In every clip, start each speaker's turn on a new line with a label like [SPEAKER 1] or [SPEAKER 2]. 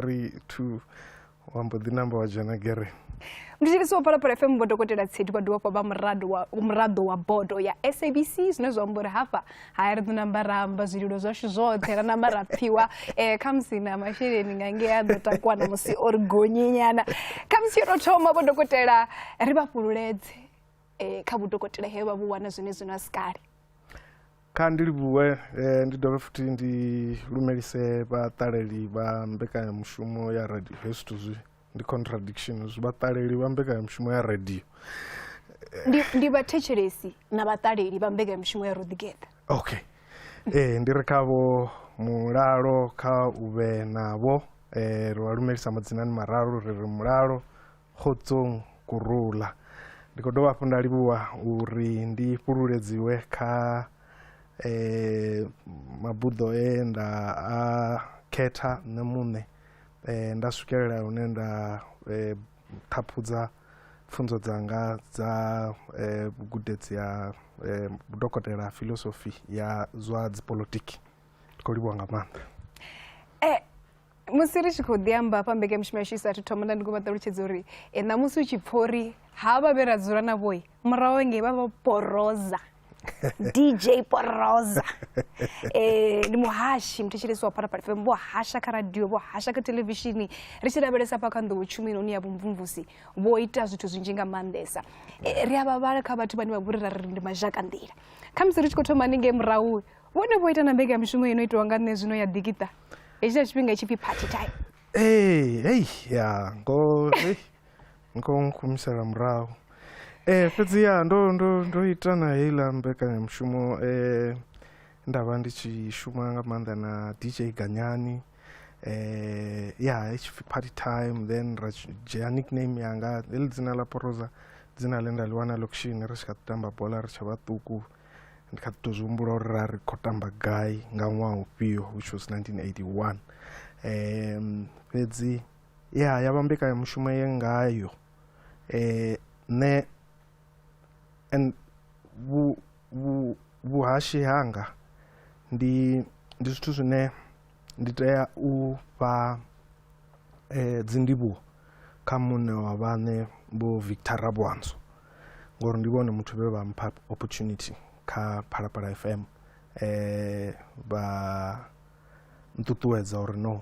[SPEAKER 1] three two wa mbo ḓi namba wa dzhena gere ndi tshilisi wa
[SPEAKER 2] phalaphala fm vho dokotela tsedi vha dovha fha vha muraḓo wa bodo ya sabc zwine zwa amba uri hafha haya ri ḓo namba ra amba zwililo zwashu zwoṱhe ra namba ra pfhiwa um eh, khamusi na masheleni nga ngei a ḓo takuwa na musi o ri gonyinyana khamusi yo tou thoma vho dokotela ri vha fhululedze um kha vhudokotela he vha vhu wana zwine zwino a si kale Kha
[SPEAKER 1] ndi livhuwe ndi dovhe futhi ndi lumelise vhaṱaleli vha mbekanyamushumo ya radio hezwi zwithu zwi ndi contradiction zwi vhaṱaleli vha mbekanyamushumo ya radio ndi
[SPEAKER 2] ndi vhathetshelesi na vhaṱaleli vha mbekanyamushumo ya rodigeta okay
[SPEAKER 1] ee ndi ri khavho mulalo kha u vhe navho um ri vha lumelisa madzinani mararu ri ri mulalo Kgotsong ku rula. Ndi khou dovha hafhu nda livhuwa uri ndi fhululedziwe kha eh, mabuḓo e nda a khetha nṋe muṋe eh, nda swikelela hune nda eh, ṱhaphudza pfunzo dzanga dza eh, gudedzi ya eh, dokotela filosofi ya zwa dzipolitiki ndi khou livhuwa nga maanḓa
[SPEAKER 2] musi ri tshi khou ḓi amba hafha mbekanyamushumo yashu i sathu thoma nda ndi khou vha ṱalutshedza uri e, ṋamusi u tshi pfa uri ha vha vhe ra dzula na vhoi murahu engei vha vha poroza dj poroza um ndi muhashi muthetshelesi wa phalaphala fm vho hasha kha radio vho hasha kha televishini ri tshi lavhelesa hafha kha nḓowo tshumelo ni ya vhumvumvusi vho ita zwithu zwinzhi nga maanḓesa eh, ri a vhavhala kha vhathu vhane vha vhori ra ri ndi mazhaka nḓila khamusi ri tshi khou thoma haningei murahu vhone vho ita na mbekamishumo ino itiwa nga nṋe zwino ya ḓikita hetsho tshifhinga tshipfi party time ee hei ya ngo
[SPEAKER 1] hei, ngo nkhumisela murahu ee fhedzi ya ndo ndo ndo ita na heiḽa mbekanyamushumo ee nda vha ndi tshi shuma nga maanḓa na dj ganyani eh ya itshipfi party time then ra tshi- dzhia nickname yanga heḽi dzina ḽa poroza dzina ḽe nda ḽi wana lokushini ri tshi kha ḓi tamba bola ri tshe vhaṱuku ndi kha ḓi tou zwi humbula uri ra ri khou tamba gai nga ṅwaha ufhio which was 1981 um fhedzi ya ya vha mbekanyamushumo ye ngayo um nṋe and vhu vhu vhuhashi hanga ndi ndi zwithu zwine Ndi tea u fha dzindivhuwo kha muṋe wa vhaṋe Vho Victor Raboanso ngori ndi vhone muthu vhe vha mpha opportunity kha Phalaphala F_M vha nṱuṱuwedza uri no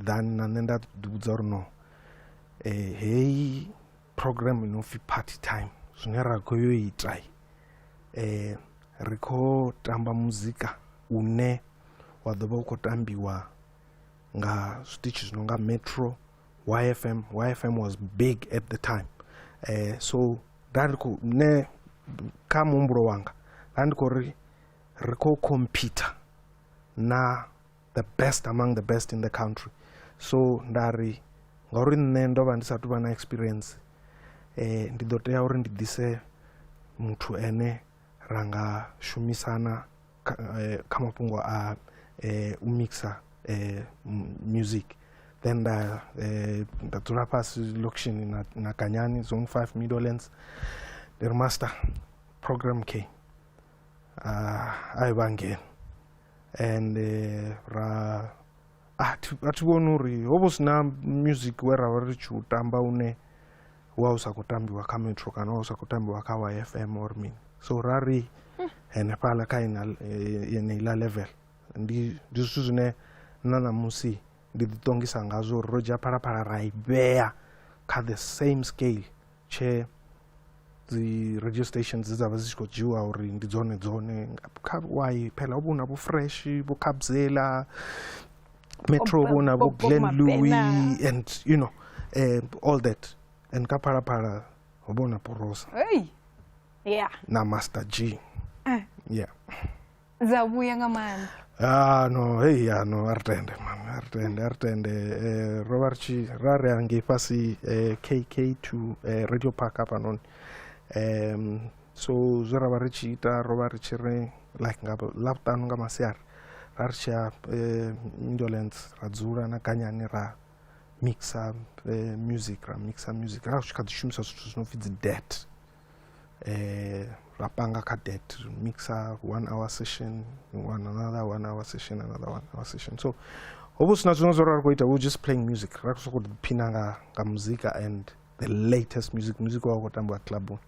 [SPEAKER 1] ḓani na nṋe nda ḓi vhudza uri no heyi program ino pfi party time zwine ra khou yo ita eh ri khou tamba muzika une wa ḓo vha u khou tambiwa nga zwiṱitshi zwi no nga metro yfm yfm was big at the time eh so nda ndi khou nṋe kha muhumbulo wanga nda ndi khou ri ri khou computer na the best among the best in the country so nda ri ngauri nṋe ndo vha ndi sa tuvha na experience eh ndi ḓo tea uri ndi ḓise muthu ene ra nga shumisana kha eh, mafhungo a eh, u mixa eh, music then nda eh, nda dzula fhasi location na, na kanyani zone 5 middlelands ndi ri master program k uh, ah, a i vha ngeno and eh, ra a thi a thi vhoni uri ho vha hu si na music we ra vha ri tshi u tamba une wa u sa khou tambiwa kha metro kana wa u sa khou tambiwa kha wa f m or mini so ra ri henefhaḽa kha ina eh, yeneiḽa level ndi ndi zwithu zwine na ṋamusi ndi ḓiṱongisa ngazwo uri ro dzhia phalaphala ra i vhea kha the same scale tshee dzi radio stations dze dza vha dzi tshi khou dzhiwa uri ndi dzone dzone kha wai phela ho vha hu na vho fresh vho kabzela metro vho na vho glen louis and you know um, all that and ka phalaphala ho vha hu na porosa hey. yeah. na master g eh. yeah
[SPEAKER 2] dza vhuya nga maanḓa
[SPEAKER 1] ah, no hei ya no a ri tende mani a ri tende a ri tende um ro vha ri tshi ra ri angei fhasi um k k to um radio park hafhanoni um so zwe ra vha ri tshi ita ro vha ri tshi ri like nga ḽavhuṱanu nga masiari ra ri tshi ya um indolence ra dzula na ganyani ra mixa um music ra mixa music ra ri tshi kha ḓi shumisa zwithu zwi no pfhi dzi det eh, ra panga kha debt ri mixa one hour session one another one hour session another one hour session so ho vha sina zwino zwo ra ri khou ita we just playing music ra sokou ḓiphina nga nga muzika and the latest music music wa u khou tambiwa clubuni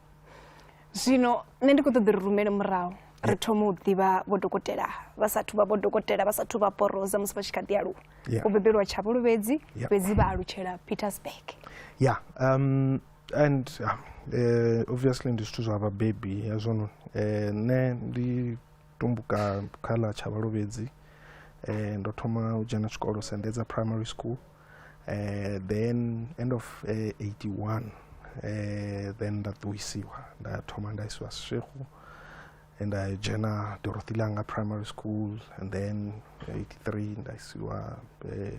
[SPEAKER 1] zwino
[SPEAKER 2] nṋe ndi khou ṱoḓa ri rumele murahu ri thoma u ḓivha vho dokotela vha sathu vha vho dokotela vha sathu vha poroza musi vha tshi kha ḓi aluwa vho bebelwa tshavhuluvhedzi fhedzi vha alutshela petersburg ya
[SPEAKER 1] um and um, eh, obviously ndi zwithu zwa vhabebi hezwono eh, nṋe ndi tumbuka kha ḽa tsha vhalovhedzi eh, ndo thoma u dzhena tshikolo sendedza primary school eh, then end of eh, 81 eh, then nda ṱuwisiwa nda thoma nda isiwa seshekhu and i dzhena dorothy langa primary school and then 83 nda isiwa eh,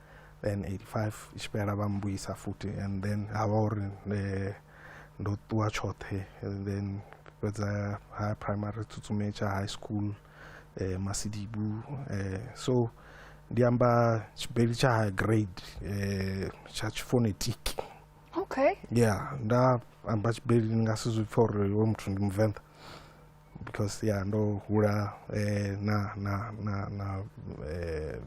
[SPEAKER 1] then 85 i tshi fhela vha mbuyisa futhi and then ha vha uri eh, ndo ṱuwa tshoṱhe and then fhedza ha primary tsutsume tsha high school eh, masidibu eh, so ndi amba tshibeli tsha high grade eh, tsha tshifonetic okay
[SPEAKER 2] yeah nda
[SPEAKER 1] amba tshibeli ndi nga si zwi pfa uri wo muthu ndi muvenḓa because ya ndo hula eh, na na na na eh,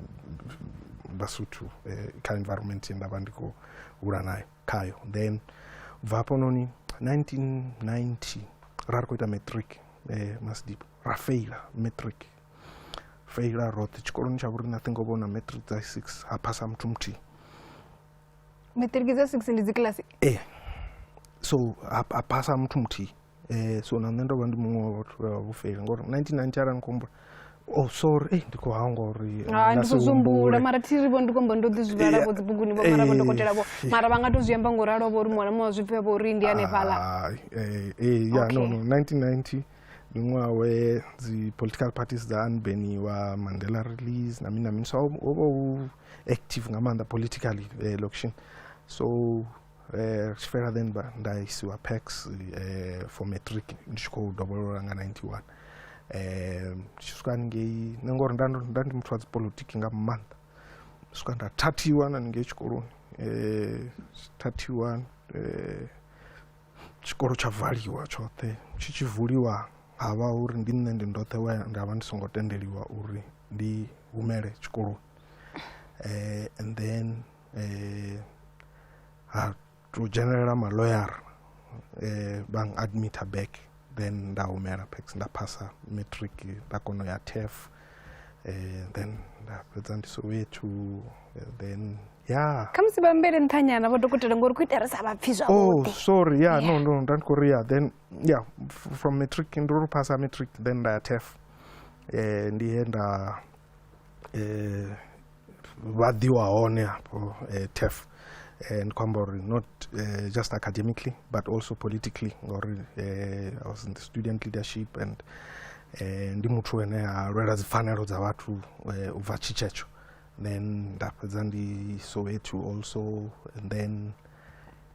[SPEAKER 1] basuthu eh, kha environment ye ndavha ndi khou hula nayo khayo then ubva hafhanoni 1990 ra ri khou ita matric eh, masdip ra faila matric faila roṱhe tshikoloni tsha vhuri nothing ovha na matric dza six ha phasa muthu muthihi
[SPEAKER 2] matric dza six ndi dzikilasi eh
[SPEAKER 1] so ha phasa muthu muthihi eh, so na nṋe ndo vha ndi muṅwe wa vhathu vha vhufeli ngori 1990 arali ni khou humbula oh sorry eh, ndi khou hangwa uri eh, hai nga ndi si khou zwi humbule.
[SPEAKER 2] humbula mara thi ri vho ndi khou amba ndo ḓi zwi vhala vho dzibuguni vho mara vho dokotela vho mara vha nga to zwi amba ngo ralo vho ri muṅwe na muṅwe wa zwi pfha vho ri ndi hanefhaḽa Ai, eh, eh, ya
[SPEAKER 1] no Okay. no 1990 ndi ṅwaha we dzi political parties dza anbeniwa mandela release na mini na mini so ho vha hu active nga maanḓa politically eh, locution so eh tshifhela then ba nda isiwa PAX eh for matric ndi tshi khou dovholola nga 91 eh tshi swika ngei nṋe ngori nda nda ndi muthu wa dzi politiki nga maanḓa swika nda thathiwa na ngei tshikoloni eh thathiwa eh tshikolo tsha valiwa tshoṱhe tshi tshi vuliwa ha vha uri ndi nṋe ndi ndoṱhe we nda vha ndi songo tendeliwa uri ndi humele tshikoloni eh and then eh ha to dzhenelela ma lawyer eh bang admit her back then nda humela pax nda phasa matric nda kono ya TEF eh then nda fhedza ndi soweto eh, then ya kha musi vhambele nṱhanyana
[SPEAKER 2] vho dokotela ngori ku itela sa vhapfi oh, zwavhuḓi oh sorry ya
[SPEAKER 1] no
[SPEAKER 2] no
[SPEAKER 1] nda ndi khou ya then ya from matric ndo ri phasa matric then nda ya tef eh ndi he nda eh, vha ḓiwa hone hafho eh, tef eh, ndi khou amba uri not eh, just academically but also politically ngauri eh, i was in the student leadership and eh, ndi muthu ene a lwela dzipfanelo dza vhathu eh, u bva tshitshetsho then nda fhedza ndi soweto also and then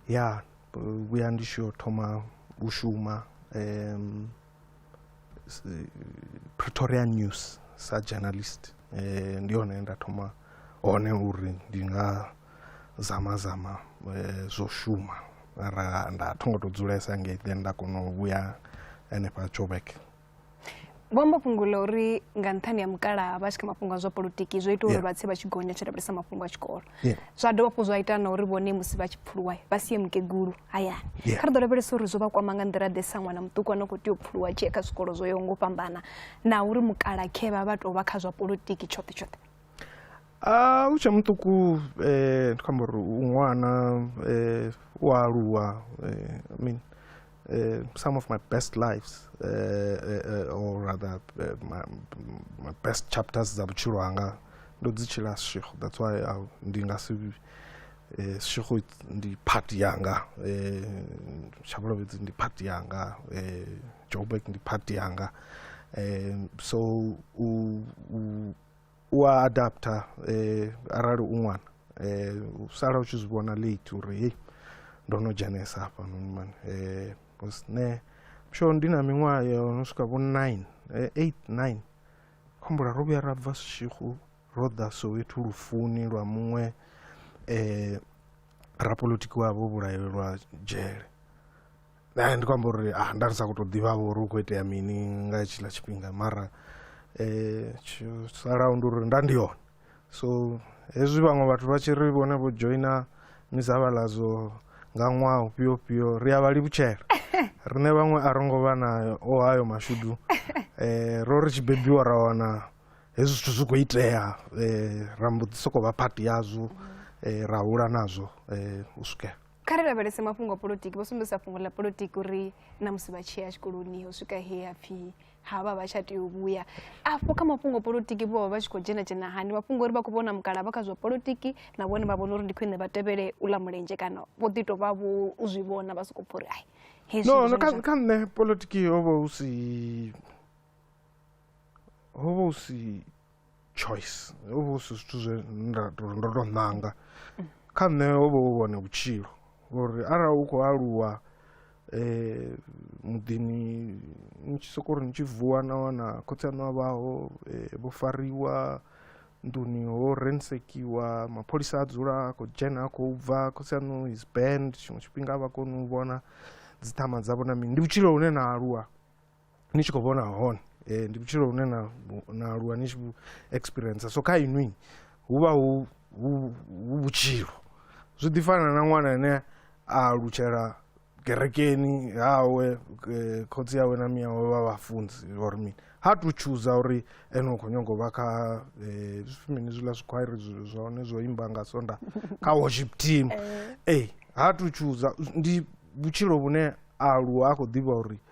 [SPEAKER 1] ya vhuya ndi tshi yo thoma u shuma um, pretoria news sa journalist um ndi hone nda thoma hone uri ndi nga zama zama eh, zwo shuma mara nda tho ngo to dzulesa ngei then nda kona u vhuya henefha joburg
[SPEAKER 2] vho amba fhungo ḽa uri nga nṱhani ha mukalaha vha tshi kha mafhungo a zwa politiki zwo ita uri vha tse vha tshi gonya tshi lavhelesa mafhungo a tshikolo yeah. zwa dovha fhu zwa ita na uri vhone musi vha tshi pfuluwa vha sie mukegulu hayani yeah. kha ri ḓo lavhelesa uri zwo vha kwama nga nḓila ḓe sa ṅwana muṱuku ano khou tea u pfuluwa tshee kha zwikolo zwo yaho ngo fhambana na uri mukalakhe vha vha tou vha kha zwa politiki tshoṱhe tshoṱhe a
[SPEAKER 1] u tshe muṱuku um ndi khou amba uri u ṅwana um u aluwa um i mean Uh, some of my best lives uh, uh, uh or rather uh, my, my best chapters za vhutshilo hanga ndo dzi tshila shekhu that's why I, ndi nga si uh, shekhu ndi part yanga shabalovhedzi ndi part yanga joburg ndi part yanga um, so u, u u a adapter eh, arali u ṅwana eh, u sala u tshi zwi vhona late uri hei ndo no dzhenesa hafha noni mani eh, bcause ne msho ndi na miṅwaha yo no swika vho 9 eh, 8 9 khombula ro vhuya ra bva sishihu ro ḓa soweto lufuni lwa muṅwe eh, rapolitiki wavho vhulaelwa dzhele eh, ndi khou amba uri ah, nda ri sa khou tou ḓivha vho uri u khou itea mini nga tshiḽa tshifhinga mara um salaho ndi uri nda ndi hone so hezwi vhaṅwe vhathu vha tshi ri vhone vho joina mizavhaladzo nga ṅwaha ufhio ufhio ri a vha livhutshela riṋe vhaṅwe a ro ngo vha na o hayo mashudu um ro ri tshi bebiwa ra wana hezwi zwithu zwi khou itea um ra mbo ḓi sokou vha phati yazwo um ra hula nazwo um u swikela kha ri lavhelese mafhungo
[SPEAKER 2] a polotiki vho sumbedzisa fhungo ḽa polotiki uri na musi vha tshi ya tshikoloni u swika he ya pfhi ha vha vha tsha tea u vhuya afho kha mafhungo a polotiki vho vha vha tshi khou dzhena dzhena hani mafhungo uri vha khou vhona mukala vha kha zwa polotiki na vhone vha vhona uri ndi khwine vha tevhele u ḽa mulenzhe kana vho ḓi tou vha vho u zwi vhona vha sokou pfha uri ai no no kha kha
[SPEAKER 1] nṋe polotiki ho vha hu si ho vha hu si choice ho vha hu si zwithu zwe nda to ndo to ṋanga kha nṋe ho vha hu vhone vhutshilo ngori arali u khou aluwa um muḓini ni tshi soko ri ni tshi vuwa na wana khotsi aṋu a vhaho um vho fariwa nḓuni ho rensekiwa mapholisa a dzula a khou dzhena a khou bva khotsi aṋu is band tshiṅwe tshifhinga a vha koni u vhona dzi ṱhama dzavho na mini ndi vhutshilo hune na aluwa ni tshi khou vhona hone eh, ndi vhutshilo hune na na aluwa ni tshi vhu experience so kha inwi hu vha hu hu hu vhutshilo zwi ḓi fana na ṅwana ane a alutshela kerekeni hawe eh, khotsi yawe na miya wawe vha vhafunzi or mini ha tu chooser uri ene u khou nyanga u vha kha eh, zwi- mini zwiḽa zwikhwairi zwi- zwa hone zwo imba nga sonda kha worship team ee ha tu chooser ndi vhutshilo vhune a aluwa a khou ḓivha uri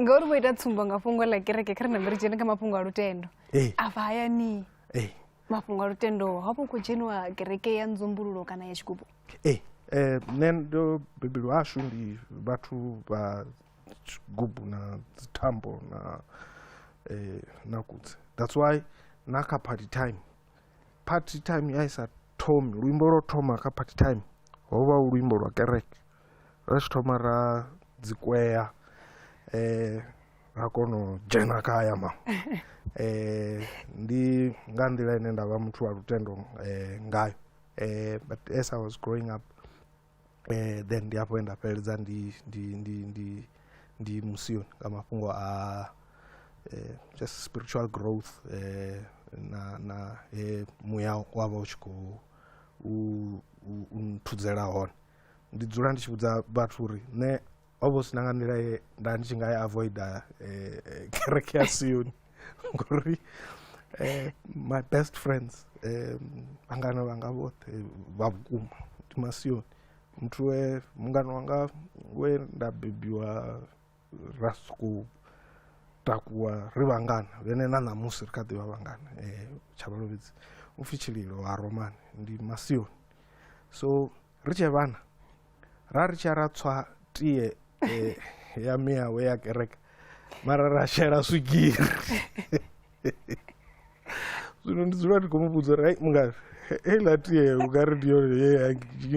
[SPEAKER 2] ngauri vho ita tsumbo nga fhungo ḽa kereke kha ri nambe ri dzhene kha mafhungo a lutendo afha hayani mafhungo a lutendo hafho khou dzheniwa kereke ya nzumbululo kana ya tshigubu ee eh, nṋe
[SPEAKER 1] ndo bebelwa hashu ndi vhathu vha tshigubu na dzithambo na eh, na kudzi that's why na kha party time party time ya isa thomi luimbo lwo thoma kha party time ho vha luimbo lwa kereke Ri tshi thoma ra dzi kwea ra kona u dzhena kha aya ma ndi nga nḓila ine nda vha muthu wa lutendo ngayo but as I was growing up then ndi hafho he nda fhedza ndi ndi ndi ndi ndi musioni nga mafhungo a just spiritual growth na na muya wa vha u tshi khou u nthudzela hone. ndi dzula ndi tshi vhudza vhathu uri nṋe ho vha hu si na nga nḓila ye nda ndi tshi nga ya avoida eh, eh, kereke ya sioni ngori eh, my best friends vhangana vhanga vhoṱhe vha vhukuma ndi masioni muthu we mungana wanga we nda bebiwa ra sokou takuwa ri vhangana vhene na ṋamusi ri kha ḓi vha vhangana um eh, tshabalovhedzi u pfhi tshililo ha romani ndi masioni so ri tshee vhana ra ri tsha ra tswa tie um ya miyawe ya kereke mara ra shela swigiri zwino ndi dzula ndi khou mu vhudza uri hai mungafhi heiḽa tie u nga ri ndi yone ye ya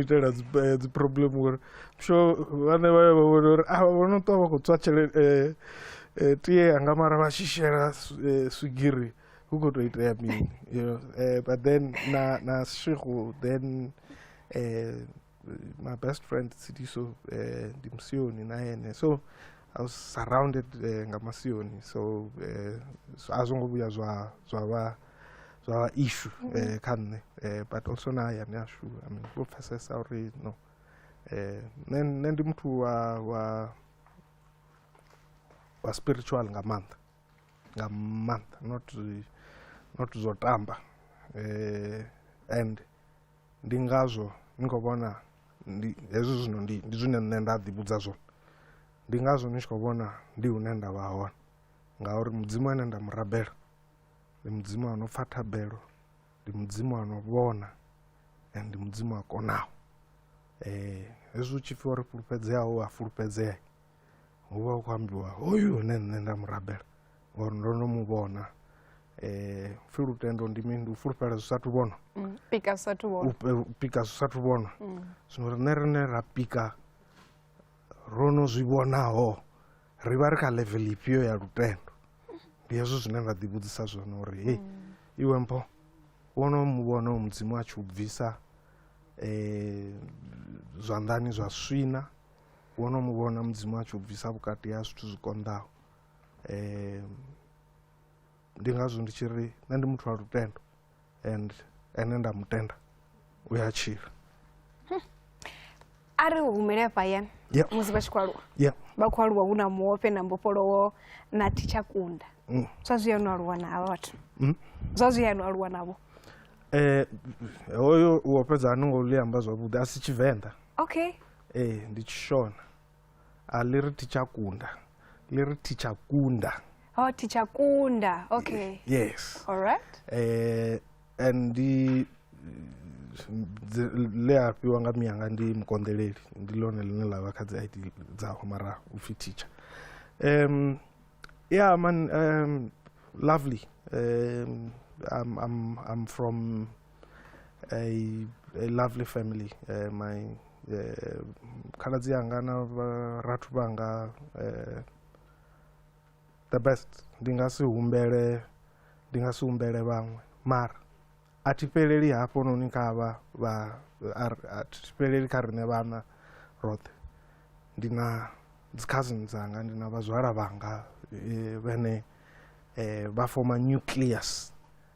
[SPEAKER 1] itela dzi problem ngori sho vhane vha vha vhona uri a vho no ṱwa vha khou tswa tshelede eh, eh, tie anga mara vha tshi shela eh, swigiri hu khou tou itea mini you know but then na na shihu then um my best friend sidiso um eh, ndimsiyoni nayene so i was surrounded um eh, ngamasiyoni so um a zwo ngo vhuya zwa zwa vha zwa vha issue um mm-hmm. kha nṋe um but also na hayani ashu i mean vho pfesesa uri no um nṋe ndi muthu wa wa wa spiritual nga maanḓa nga maanḓa not not zwo tamba um and Ndi ngazwo ni khou vhona ndi hezwi zwino ndi ndi zwine nṋe nda ḓi vhudza zwone ndi ngazwo ni tshi khou vhona ndi hune nda vha hone ngauri mudzimu ane nda mu rabela ndi mudzimu ano pfha thabelo ndi mudzimu ano vhona and ndi mudzimu a konaho um hezwi u tshi pfhi uri fhulufhedzeaho a fulufhedzea hu vha hu khou ambiwa hoyu hune nṋe nda mu rabela ngori ndo no mu vhona um pfhi lutendo ndi mini ndi u fulufhela zwi sathu vhona
[SPEAKER 2] mm, pika zwi sathu
[SPEAKER 1] vhona mm. zwino rine rine ra pika ro no zwi vhonaho ri vha ri kha level ifhio ya lutendo ndi hezwo zwine nda ḓi vhudzisa zwone uri hei mm. iwe mpho wono mu vhona u mudzimu a tshi u bvisa um zwanḓani zwa swina wo no mu vhona mudzimu a tshi u bvisa vhukati ha zwithu zwi konḓaho um ndi ngazwo ndi tshi ri nṋe ndi muthu wa lutendo and ene nda mutenda u ya tshila
[SPEAKER 2] a ri humele hafhayani yeah. musi vha tshi khou aluwa yeah. vha khou aluwa hu na muofhe na mbofholowo na thitsha kunda mm. zwa zwi yanu aluwa na havha vhathu mm. zwa zwi yanu aluwa navho eh, hoyo
[SPEAKER 1] uofhedza ani ngo ḽi amba zwavhuḓi a si tshivenḓa okay
[SPEAKER 2] Ee, ndi
[SPEAKER 1] Tshishona. A ḽi ri thi tsha kunda. Ḽi ri thi tsha kunda. Oh, thi tsha
[SPEAKER 2] kunda. Okay. Yes. All right.
[SPEAKER 1] Eh,
[SPEAKER 2] and ndi
[SPEAKER 1] dzi- ḽe a fhiwa nga miyanga ndi mukonḓeleli ndi ḽone ḽine ḽa vha kha dzi id dzaho mara u pfhi teacher um, yeah man um, lovely um, I'm, I'm, I'm from a, a lovely family uh, my uh, khaladzi yanga na vharathu vhanga uh, the best ndi nga si humbele ndi nga si humbele vhaṅwe mara a thi fheleli hafhononi kha vha vha a thi fheleli kha riṋe vhana roṱhe ndi na dzi cousin dzanga ndi na vhazwala vhanga eh, vhane eh, vha foma nucleus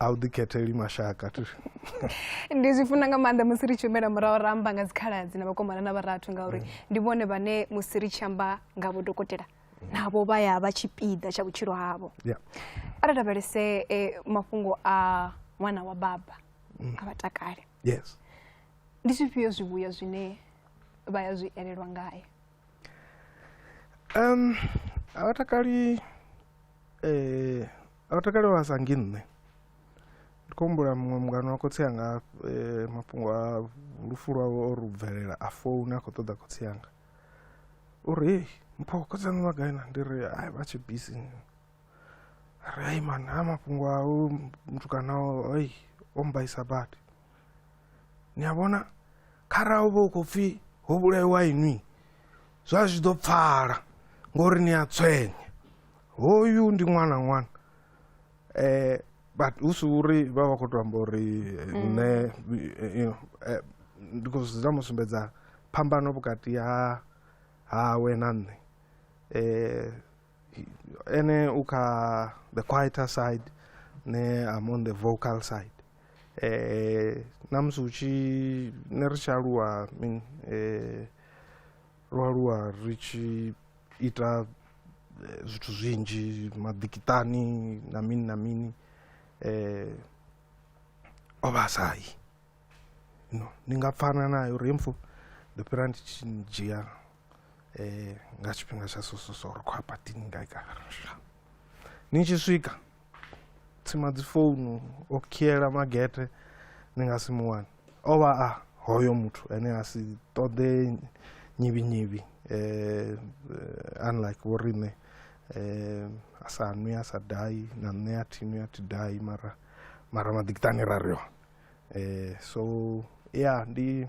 [SPEAKER 1] a u ḓikhetheli mashaka
[SPEAKER 2] ndi zwi funa nga maanḓa musi ri tshi humela murahu ra amba nga dzikhaladzi na vhakomana na vharathu ngauri mm. ndi vhone vhane musi ri tshi amba nga vhodokotela navho vha ya vha tshipiḓa tsha vhutshilo havho a ri lavhelese eh, mafhungo a ṅwana wa baba mm. a vhatakale yes
[SPEAKER 1] ndi zwifhio
[SPEAKER 2] zwivhuya zwine vha ya zwi elelwa ngaye um
[SPEAKER 1] a vhatakali um eh, A vha takale vha sa ngi nṋe ndi khou humbula muṅwe mungano wa khotsi anga eh, mafhungo a lufu lwawe o ri u bvelela a founa a khou ṱoḓa khotsi anga uri hei mpho khotsi anga vha gai na ndi ri ai vha tshi bisi ri ai man ha mafhungo a u mutukana o- oi o mbaisa badi ni a vhona kharali u vha u khou pfhi ho vhulaiwa inwi zwa zwi ḓo pfala ngori ni a tswenya hoyu ndi ṅwana ṅwana eh but hu si uri vha vha khou to amba uri eh, mm. nṋe eh, you know eh, ndi khou zwi mu sumbedza phambano vhukati ha hawe na nṋe eh Ene uka the quieter side ne I'm on the vocal side. Eh namusi uchi ne ri tshi aluwa mean eh ro aluwa ri tshi ita eh, zwithu zwinzhi maḓikitani na mini na mini eh o vha sai no ni nga pfana nayo rimfo ndo fhira ndi tshi dzhia eh, nga tshifhinga tsha sososo ri khou apatini ngai kana ni tshi swika tsima dzi founu o khiela magete ni nga si mu wane o vha a hoyo muthu ane a si ṱoḓe nyivhi nyivhi eh, eh unlike vho riṋe eh, a sa nwi a sa dai na nṋe a thi nwi a thi dai mara mara maḓikitani ra ri hone eh, so ya yeah, ndi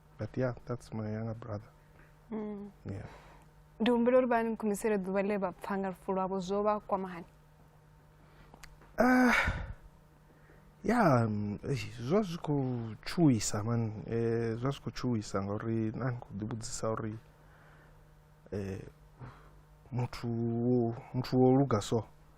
[SPEAKER 1] but yeah that's my younger brother mm. yeah ndi
[SPEAKER 2] humbela uri vha ni khumisele ḓuvha ḽe vha pfa nga lufu lwavho zwo vha kwama hani ah,
[SPEAKER 1] ya mm, zwa zwi khou tshuwisa man eh, zwa zwi khou tshuwisa ngauri na ni khou ḓivhudzisa uri eh, muthu muthu wo luga so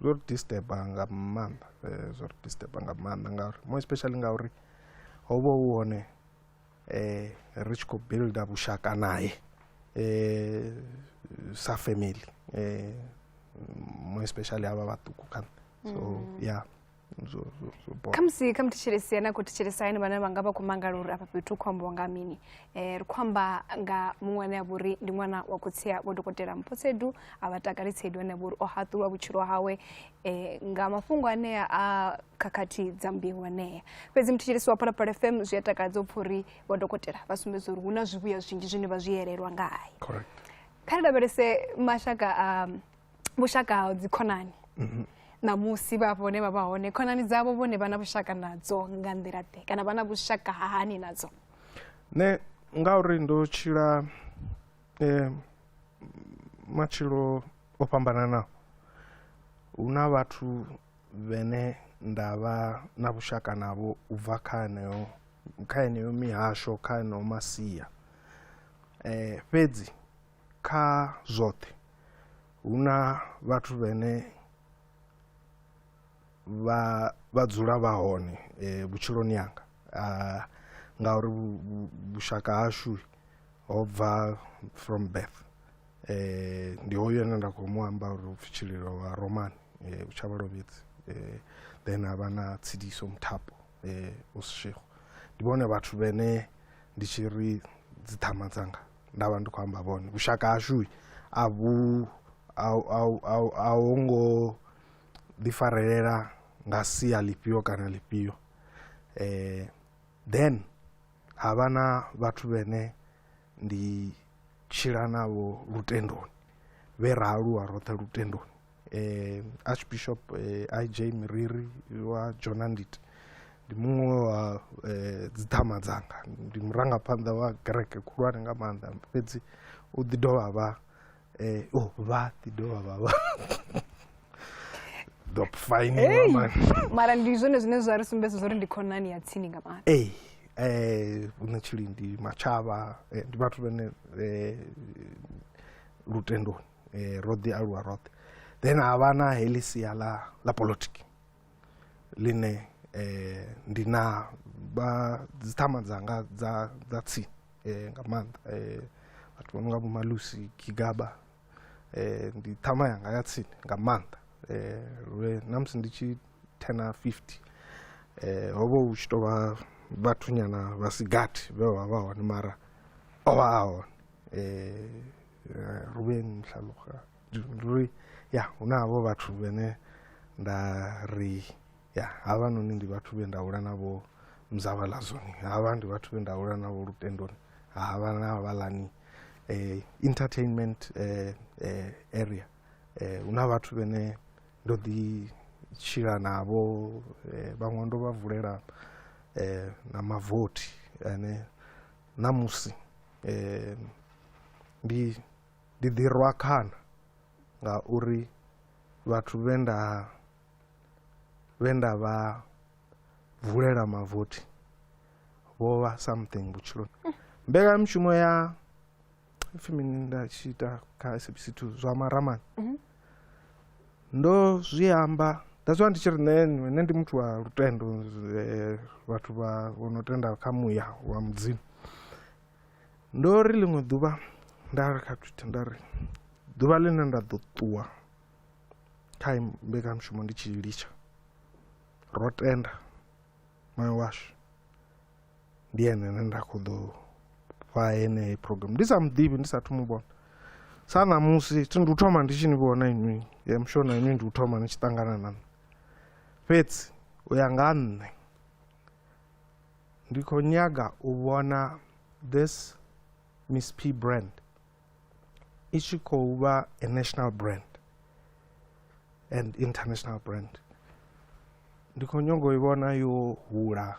[SPEAKER 1] zwo ri disturba nga maanḓa eh, zwo ri disturba nga maanḓa ngauri more especially ngauri ho vha hu hone eh ri tshi khou builda vhushaka naye eh sa family eh more especially havha vhaṱuku kha so mm. yeah
[SPEAKER 2] khamusi kha muthetshelesi na khou thetshelesa ene vhane vha nga vha khou mangala uri afha fhethu khou ambiwa nga mini um ri khou amba nga muṅwe ane a vha uri ndi ṅwana wa khotsia vho dokotela mphotsedu a vha takali tsedu ane a vha uri o haṱulwa vhutshilo hawe um nga mafhungo anea a khakhathi dza mbeu anea fhedzi muthetshelesi wa phalaphala fm zwi a takadza u pfha uri vho dokotela vha sumbedza uri hu na zwivhuya zwinzhi zwine vha zwi yelelwa ngae kha ri lavhelese mashaka a vhushaka ha dzikhonani mhm. ṋamusi vha vhone vha vha hone khonani dzavho vhone vha na vhushaka nadzo nga nḓila ḓe kana vha na vhushaka hani nadzo nṋe
[SPEAKER 1] ngauri ndo tshila um matshilo o fhambananaho hu na vhathu vhene nda vha na vhushaka navho u bva kha heneyo kha heneyo mihasho kha heneyo masia um fhedzi kha zwoṱhe hu na vhathu vhene vha vha dzula vha hone eh, vhutshiloni yanga ah, ngauri vhushaka hashu ho bva from birth eh ndi hoyo ene nda khou mu amba uri upfi tshililo wa roman eh u tshavha lovhedzi eh then havha na tsidiso muthapo eh usishego ndi vhone vhathu vhene ndi tshi ri dzi ṱhama dzanga nda vha ndi khou amba vhone vhushaka hashu a vhu a ho ngo ḓifarelela nga sia ḽifhio kana ḽifhio um then ha vha na vhathu vhene ndi tshila navho lutendoni vhe ra aluwa roṱhe lutendoni eh, archbishop eh, ij miriri wa jonandit ndi muṅwe wa eh, dziḓhama dzanga ndi murangaphanḓa wa kereke khulwane nga maanḓa fhedzi u ḓi dovha vha eh, oh, vha ḓi dovha vha vha dop
[SPEAKER 2] fine Hey! man mara ndi zwone zwine zwa ri sumbedza zwa uri ndi khonani ya tsini nga maanḓa ee eh hune tshili ndi
[SPEAKER 1] matshava eh, ndi vhathu vhane eh, lutendoni eh, ro ḓi aluwa roṱhe then ha vha na heḽi sia ḽa ḽa politiki ḽine eh, ndi na vha dziṱhama dzanga dza dza tsini eh, nga maanḓa eh, vhathu vha no nga vhomalusi gigaba eh, ndi ṱhama yanga ya tsini nga maanḓa eh, lwe na musi ndi tshi thena 50 eh, ho vha hu tshi tou vha vhathunyana vha sigathi vhe vha vha hone mara o vha a hone eh, eh, ruvheni hlaluga ri ya hu na havho vhathu vhene nda ri ya havhanoni ndi vhathu vhe nda hula navho mzavha ḽa zoni havha ndi vhathu vhe nda hula navho lutendoni havha na havhaḽani eh, entertainment eh, eh, area eh, hu na vhathu vhene ndo ḓi tshila navho eh, vhaṅwe ndo vha vulela eh, na mavothi ane ṋamusi um ndi ndi ḓi rwa khana ngauri vhathu vhe nda vhe nda vha vulela mavothi vho vha something vhutshiloni mbekanyamushumo ya pfhi mini nda tshi ita kha sabc two zwa maramani mhm. ndo zwi amba that's why ndi tshi ri nṋe nṋe ndi muthu wa lutendo eh, vhathu vha vho no tenda kha muya wa mudzimu ndo ri ḽiṅwe ḓuvha nda ri kha twitter nda ri ḓuvha ḽine nda ḓo ṱuwa kha mbekanyamushumo ndi tshi litsha ro tenda moyo washu ndi ene ane nda kho ḓo fha yeneyi program ndi sa muḓivhi ndi sa thu mu vhona sa ṋamusi thi ndi u thoma ndi tshi ni vhona inwi ya musho na inwi ndi u thoma ni tshi ṱangana na nṋe fhedzi u ya nga nṋe ndi khou nyaga u vhona this miss p brand i tshi khou vha a national brand and international brand ndi khou nyongo i vhona yo hula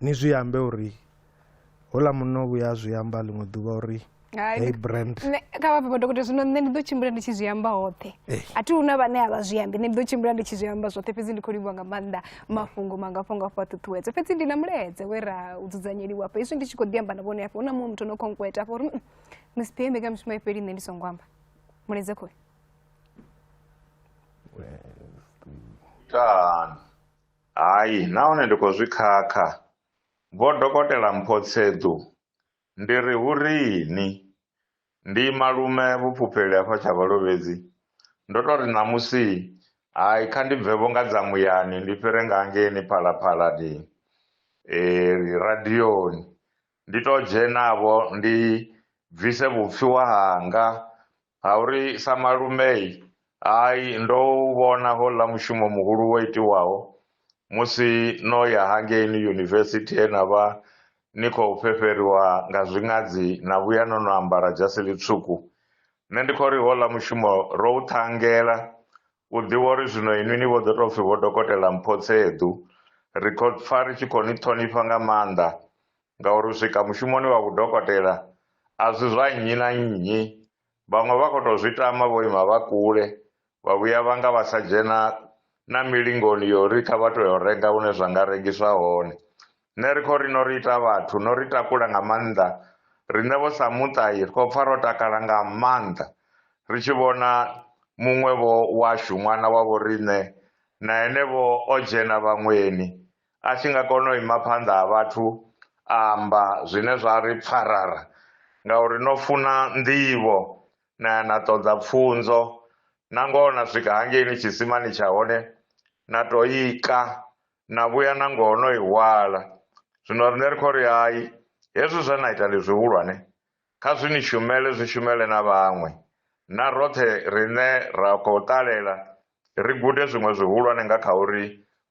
[SPEAKER 1] ni zwi ambe uri hola munna o vhuya a zwi amba ḽiṅwe ḓuvha uri hey brand kha vha papa dokotela
[SPEAKER 2] zwino nṋe ndi ḓo tshimbila ndi tshi zwi amba hoṱhe eh. a thi huna vhane a vha zwi ambi nṋe ndi ḓo tshimbila ndi tshi zwi amba zwoṱhe fhedzi ndi khou livhuwa nga maanḓa mafhungo mangafho ngafho a ṱuṱuwedza fhedzi ndi na mulaedze we ra u dzudzanyeliwa afho hezwi ndi tshi khou ḓi amba na vhone afho hu na muṅwe muthu no khonkweta afho uri miss pm mbekamishumo ifheli nṋe ndi songo amba mulaedze khoyo
[SPEAKER 3] Done. Hai, nahone ndi khou zwi khakha. Vho Dokotela Mpho Tsedu, Ndi ri hu riini? Ndi malume vhufhufheli hafha Tshavhalovhedzi. Ndo tou ri ṋamusi hai kha ndi bve-vho nga dza muyani ndi fhire nga hangeini Phalaphala ndi ri radioni ndi tou dzhena-vho ndi bvise vhupfiwa hanga Ha uri sa malumei, hai, ndo u vhona houḽa mushumo muhulu wo itiwaho musi no ya hangeini yunivesithi he na vha ni khou fhefheriwa nga zwiṅadzi na vhuya no no ambara dzhasi ḽitswuku. Nṋe ndi khou ri houḽa mushumo ro u ṱhangela, u ḓivha uri zwino inwi ni vho ḓo tou pfi Vho Dokotela Mphotseḓu. Ri khou pfa ri tshi khou ni ṱhonifha nga maanḓa ngauri u swika mushumoni wa vhudokotela a si zwa nnyi na nnyi. Vhaṅwe vha khou tou zwi tama vho ima vha kule, vha vhuya vha nga vha sa dzhena na milingoni ya uri kha vha tou ya u renga hune zwa nga rengiswa hone. Nṋe ri khou ri no ri ita vhathu, no ri takula nga maanḓa. Riṋe vho sa muṱa ri khou pfa ro takala nga maanḓa ri tshi vhona muṅwe-vho washu, ṅwana wa vhoriṋe, na ene-vho o dzhena vhaṅweni, A tshi nga kona u ima phanḓa ha vhathu a amba zwine zwa ri pfarara ngauri no funa nḓivho na ya na ṱoḓa pfunzo, nangoho na swika hangeini tshisimani tsha hone na tou i ka na vhuya nangoho no i hwala. Zwino riṋe ri khou ri, Hai, hezwi zwe na ita ndi zwihulwane. Kha zwi ni shumele zwi shumele na vhaṅwe. Na roṱhe riṋe ra khou ṱalela ri gude zwiṅwe zwihulwane nga kha uri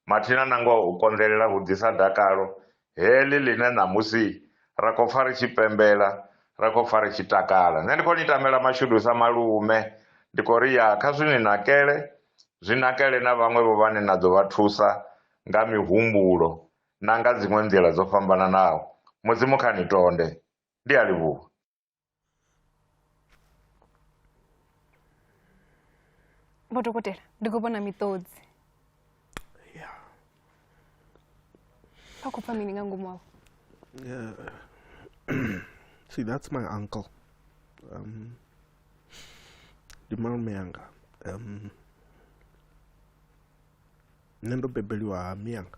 [SPEAKER 3] mathina nangoho u konḓelela hu ḓisa dakalo heḽi ḽine ṋamusi ra khou pfa ri tshi pembela, ra khou pfa ri tshi takala. Nṋe ndi khou ni tamela mashudu sa malume, ndi khou ri ya kha zwi ni nakele, zwi nakele na vhaṅwevho vhane na ḓo vha thusa nga mihumbulo na nga dziṅwe nḓila dzo fhambananaho. Mudzimu kha ni tonde. Ndi a livhuwa.
[SPEAKER 2] Vho dokotela, ndi khou vhona miṱodzi. Ya. Vha khou pfa mini nga ngomu wavho?
[SPEAKER 1] See, that's my uncle. Um, ndi malume anga. Um, nṋe ndo bebeliwa ha miyanga.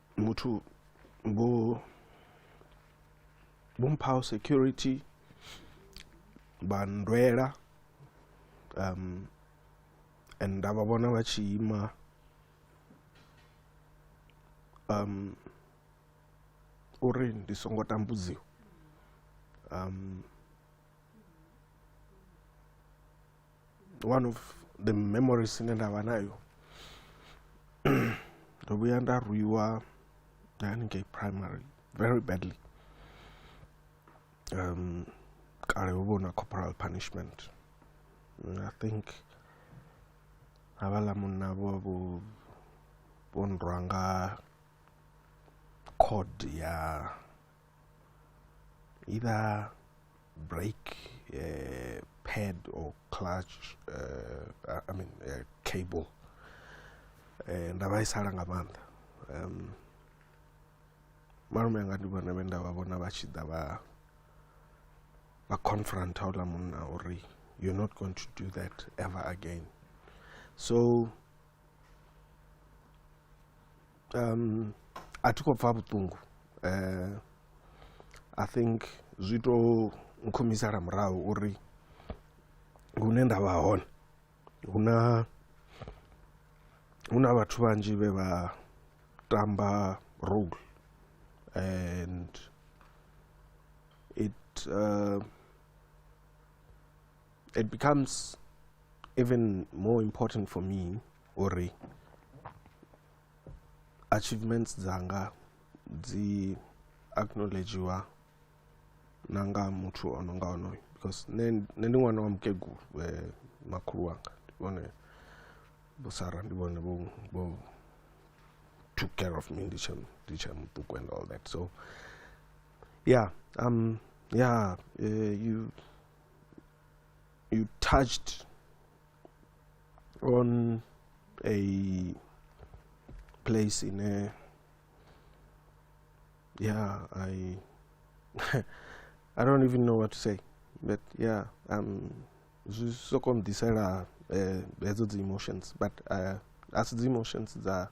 [SPEAKER 1] muthu vho vhomphaho security vha ndwela um and nda vha vhona vha tshi ima um uri ndi songo tambudziwa um one of the memories ine nda vha nayo ndo vhuya nda rwiwa haningei primary very badly um kale ho vhona corporal punishment mm, i think havhala munna vho vho vho nrwa nga code ya either brake uh, pad or clutch uh, uh, i mean uh, cable eh, nda vhaisala nga maanḓa um malume anga ndi vhone vhe nda vha vhona vha tshi ḓa vha vha confront houḽa munna uri you're not going to do that ever again so um, a thi khou pfa vhuṱungu uh, i think zwi to nkhumisela murahu uri hune nda vha hone hu na hu na vhathu vhanzhi vhe vha tamba role and it uh, it becomes even more important for me uri achievements dzanga dzi acknowledgeiwa na nga muthu o no nga onoyo because nṋe ndi ṅwana wa mukegulu eh, makhulu wanga ndi vhone vho sara ndi vhone vho vho took care of me ndi tshe ndi tshe muṱuku and all that so yeah um yeah uh, you you touched on a place in a yeah i i don't even know what to say but yeah um zwi soko mdisela eh, hedzo dzi emotions but uh, asi dzi emotions dza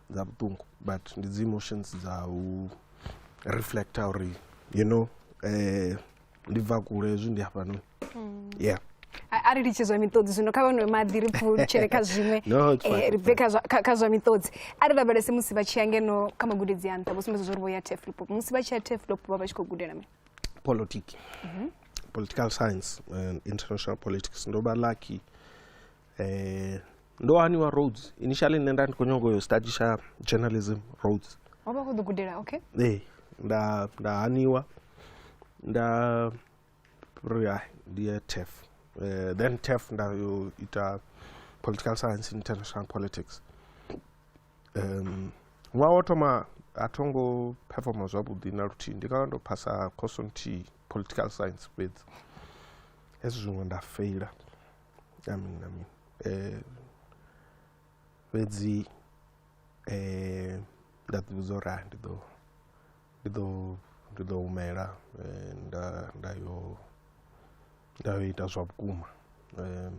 [SPEAKER 1] dza vhuṱungu but ndi dzi emotions dza u reflecta uri you know eh, ndi bva kule hezwi ndi hafhanoni mm. yeah a ri litshe
[SPEAKER 2] zwa miṱodzi zwino kha vhanwe maḓi ri pfulutshele kha zwiṅwe eh, ri bve kha zwa miṱodzi a ri lavhelese musi vha tshi ya ngeno kha magudedzi a nṱha vho sumbedza zwo ri vho ya teflop musi vha tshi ya teflop vha vha tshi khou gudela mini politiki
[SPEAKER 1] mhm. political science and international politics ndo vha lucky eh, ndo haniwa roads initially nṋe nda ndi khou nyanga uyo study tsha journalism roads wa vha khou ḓo gudela
[SPEAKER 2] okay ee nda
[SPEAKER 1] nda haniwa nda ri hai ndi ye tef Eh, then tef nda yo ita political science in international politics um, ṅwaha wo thoma a tho ngo performa zwavhuḓi na luthihi ndi nga vha ndo phasa course nthihi political science fhedzi hezwi zwiṅwe nda feila amin amin Eh, fhedzi eh, nda ḓivhudza uri ah, ndi ḓo ndi ḓo ndi ḓo humela eh, nda nda yo nda yo ita zwa vhukuma um,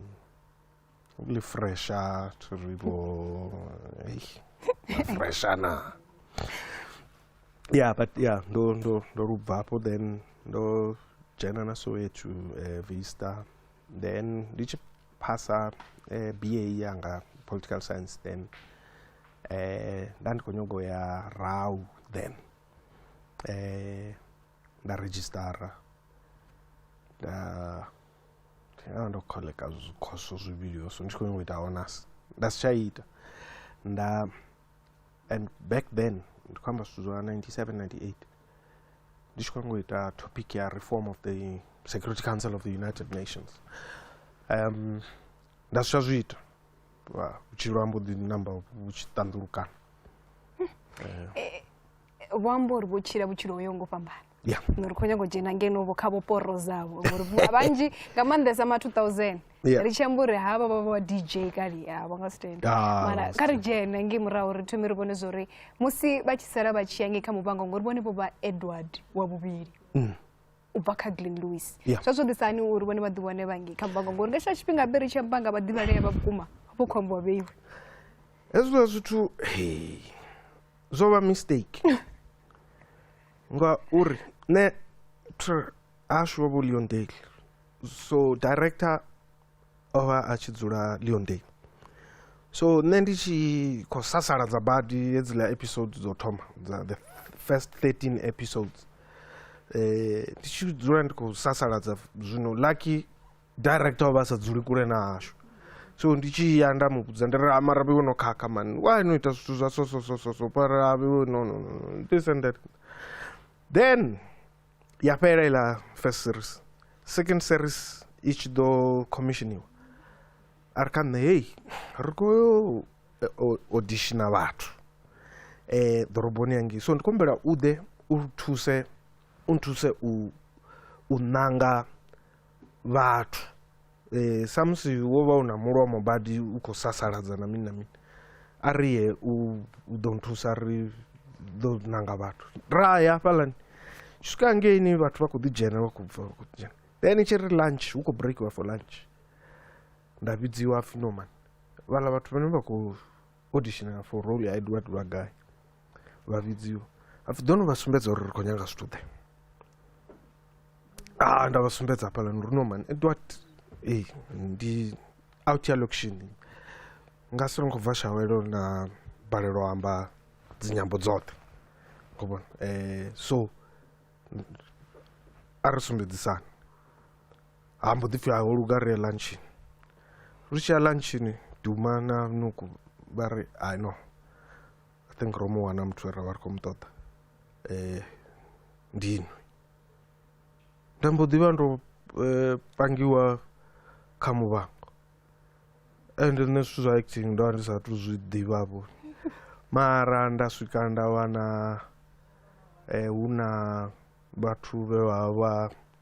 [SPEAKER 1] li fresha thi ri vho ei, na fresha na yeah but yeah ndo ndo ndo lu bvapo then ndo dzhena na soweto eh, vista then ndi tshi phasa eh, ba yanga political science then eh, nda ndi khou nyago ya rau then eh, nda registara nda ya ndo kholeka zwikhoso zwivhili yo so ndi tshi khou nyago ita honors nda si tsha ita nda and back then ndi khou amba zwithu zwa 97 98 ndi tshi khou nyanga u ita topic ya reform of the security council of the united nations um nda si tsha zwi ita vhutshilo ha mbo ḓi namba vhu tshi ṱanḓulukana eh,
[SPEAKER 2] eh, vho amba uri vho tshila vhutshilo ho yo ngo fhambana ngori khou nyanga
[SPEAKER 1] u dzhena
[SPEAKER 2] ngeno vho kha vho poro dzavho ngori vhanzhi nga maanḓesa ma 2000 yeah. ri tshi amba uri havha vha vha dj kale a vha nga si tenda ah, mara kha ri dzhene ngei murahu ri thome ri vhone zwori musi vha tshi sala vha tshi ya ngei kha muvhango ngori vhone vho vha edward wa vhuvhili mm. u bva kha glen louis zwa zwo ḓisa hani uri vhone vha ḓi wane vha ngei kha muvhango ngori nga tsha tshifhinga be ri tshi amba nga vhaḓivhalea vha vhukuma vho khombo wa vheiwe hezwiḽa
[SPEAKER 1] zwithu hey zwo vha mistake ngauri nṋe ashu wa vho leondale so director o vha a tshi dzula leondale so nṋe ndi tshi khou sasaladza badi hedziḽa episode dzo thoma dza the first 13 episodes eh ndi tshi dzula ndi khou sasaladza zwino lucky director o vha sa dzuli kule na hashu so ndi tshi ya nda mu vhudza ndi ri amara vhe no khakha mani wa no ita zwithu zwa so so so so so para vhe no no no this and that then ya fhela iḽa first series second series i tshi ḓo commissioniwa a ri kha nṋe hei ri khou yo auditiona vhathu um ḓoroboni yangei so ndi khou humbela u ḓe u thuse u nthuse u u ṋanga vhathu e, samusi wo vha u na mulomo badi u khou sasaladza na mini na mini a ri ye u ḓo nthusa ri ḓo nanga vhathu ra ya hafhaḽani swika ngeini vhathu vha khou ḓi dzhena vha khou bva vha khou dzhena then tshi ri lunch hu khou breakiwa for lunch nda vhidziwa pfhi no mani vhaḽa vhathu vhane vha khou auditionela for role ya edward vha gai vha vhidziwa hapfi ḓoni vha sumbedza uri ri khou nyanga zwithu ḓe a ah, nda vha sumbedza hafhaḽa ndi uri no man and what ee ndi out ya location nga si ri nkhou bva shawelo na balelwa amba dzinyambo dzoṱhe khou vhona um so a ri sumbedzisana ha mbo ḓi pfhi aho luga ri ya lunchini ri tshi ya lunchini duma na nuku ba re i know i think ro mu wana muthu we ra vha ri khou mu ṱoḓa um ndinwe nda mbo ḓivha ndo eh, pangiwa kha muvhango ende nṋe zwithu zwa acting ndo vha ndi sa tu zwi ḓivhavho mara nda swika nda wana um hu na vhathu vhe vha vha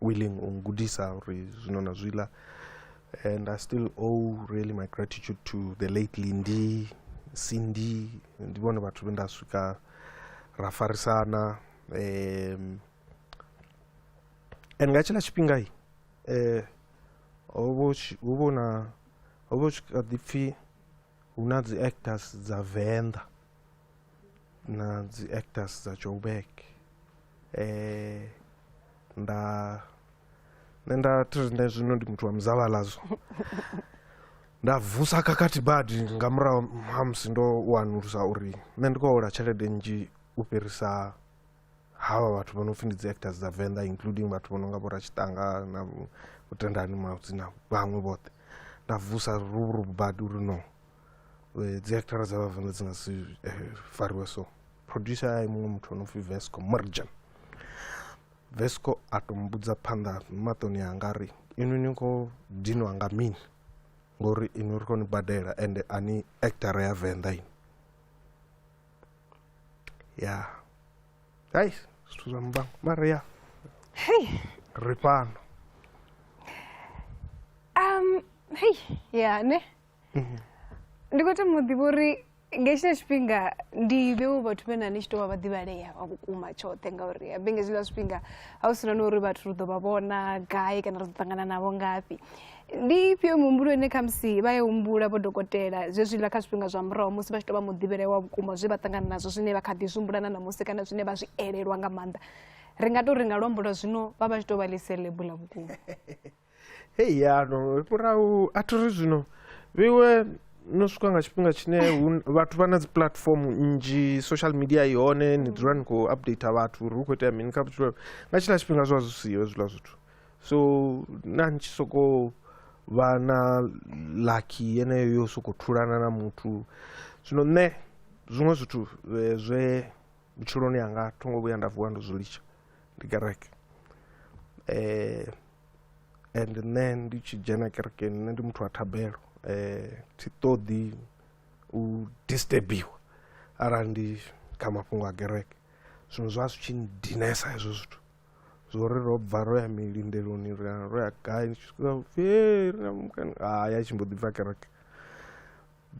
[SPEAKER 1] willing u ngudisa uri zwino na zwiḽa and i still owe really my gratitude to the late lindi cindy ndi vhone vhathu vhe nda swika ra farisana um and nga tshiḽa tshifhinga i eh hovho hovho na hovho kha ḓipfi hu na dzi actors dza venḓa na dzi actors dza joburg eh nda nṋe nda thi ri nṋe zwino ndi muthu wa muzavhalazo nda vusa khakhathi badi nga murahu ha musi ndo wanulusa uri nṋe ndi khou hola tshelede nnzhi u fhirisa havha vhathu vho no pfhi ndi dzi actors dza venḓa including vhathu vho no nga vhoratshitanga na vhutendani maudzi na vhaṅwe vhoṱhe nda vusa ruvhuruvu badi uri no eh, dzi actara dza vhavenḓa dzi nga si eh, fariwe so producer a muṅwe muthu ono pfi vesco merjan vesco a to mbudza phanḓa maṱoni anga ri inwi ni khou dinwa nga mini ngori inwi ri khou ni badela ende a ni actara ya venḓa ini ya hai zwithu zwa muvhango mara ya hei ri fhano um
[SPEAKER 2] hei ya ne mhm. ndi khou tama u ḓivha uri nga hetshiḽa tshifhinga ndi vhewo vhathu vhe na ni tshi tou vha vhaḓivhalea vha vhukuma tshoṱhe ngauri habe nga hetshiḽa tshifhinga ha u si na na uri vhathu ri ḓo vha vhona gai kana ri ḓo ṱangana navho ngafhi ndi ifhio mihumbulo ine khamusi vha ya humbula vho dokotela zwezwiḽa kha zwifhinga zwa murahu musi vha tshi tou vha muḓivhelea wa vhukuma zwe vha ṱangana nazwo zwine vha kha ḓi zwi humbula na ṋamusi kana zwine vha zwi elelwa nga maanḓa ri nga tou ri nga luambo lwa zwino vha vha tshi tou vha ḽi selebu ḽa vhukuma hei
[SPEAKER 1] yano murahu a thi ri zwino vhiwe no swika nga tshifhinga tshine vhathu vha na dzi platform nnzhi social media i hone ni dzula ni khou update vhathu uri hu khou itea mini kha vhutshilo nga tshiḽa tshifhinga zwa zwi siho hezwiḽa zwithu so na ni tshi sokou vha na lucky yeneyo yo sokou thulana na muthu zwino nṋe zwiṅwe zwithu eh, zwe vhutshiloni hanga tho ngo vhuya nda vuwa ndo zwi litsha ndi kereke eh and nṋe ndi tshi dzhena kerekeni nṋe ndi muthu wa thabelo eh thi ṱoḓi u disturbiwa arali ndi kha mafhungo a kereke zwino zwa zwi tshi dinesa hezwo zwithu zwori ro bva ro ya milindeloni ri ro ya gai ni tshi swika upfhi hei ri na mukana haya tshi mbo ḓi bva kereke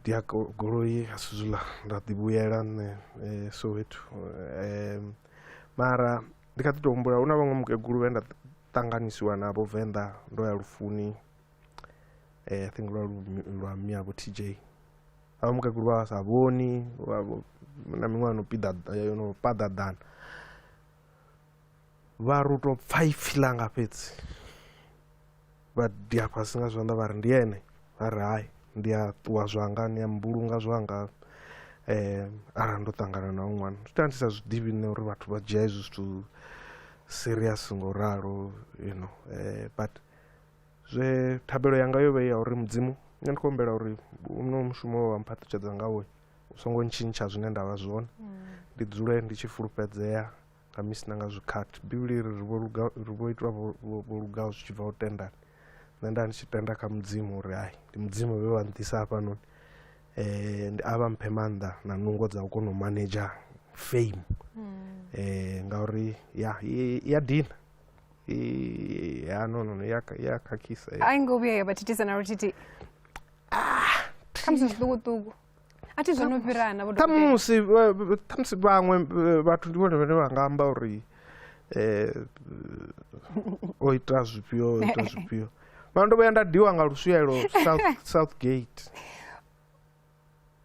[SPEAKER 1] ndi a goloi a si zwiḽa nda ḓi vhuyela nṋe eh, soweto um mara ndi kha ḓi tou humbula hu na vhaṅwe mukegulu vhe nda ṱanganisiwa navho venḓa ndo ya lufuni eh, i think lwa lwa miavho t j avha mukegulu vha vha sa vhoni na miṅwaha no piḓa eh, no paḓaḓana vha ri u tou pfa ipfi ḽanga fhedzi vha dia fhasi nga zwanḓa vha ri ndi ene vha ri hai ndi a ṱuwa zwanga ni a mbulunga zwanga um arali ndo ṱangana na u ṅwana zwi tea ndi sa zwiḓivhi nṋe uri vhathu vha dzhia hezwi zwithu serious ngo ralo you know um but zwe thabelo yanga yo vha ya uri mudzimu nṋe ndi khou humbela uri uno mushumo wa mphaṱutshedza ngawo u songo ntshintsha zwine nda vha zwone mm. ndi dzule ndi tshi fulufhedzea khamusi na nga zwikhathi bivhili iri ri vho itwa vho lugaho zwi tshi bva u tendani nṋe nda ndi tshi tenda kha mudzimu uri hai ndi mudzimu vhe wa nḓisa hafhanoni um a vha mphe maanḓa na nungo dza u kona u manager fame um ngauri ya ya dina ya no no no ya khakhisa a i ngo vhuya ya vha
[SPEAKER 2] thithisa na luthithi ah, khamusi zwiṱukuṱuku a thi zwo no fhirana vho dokotela ṱhamusi vha-
[SPEAKER 1] vha- ṱhamusi vhaṅwe eh, vhathu ndi vhone vhane vha nga amba uri eh, o ita zwifhio o ita zwifhio vha ndo vhuya nda diwa nga luswielo south, south gate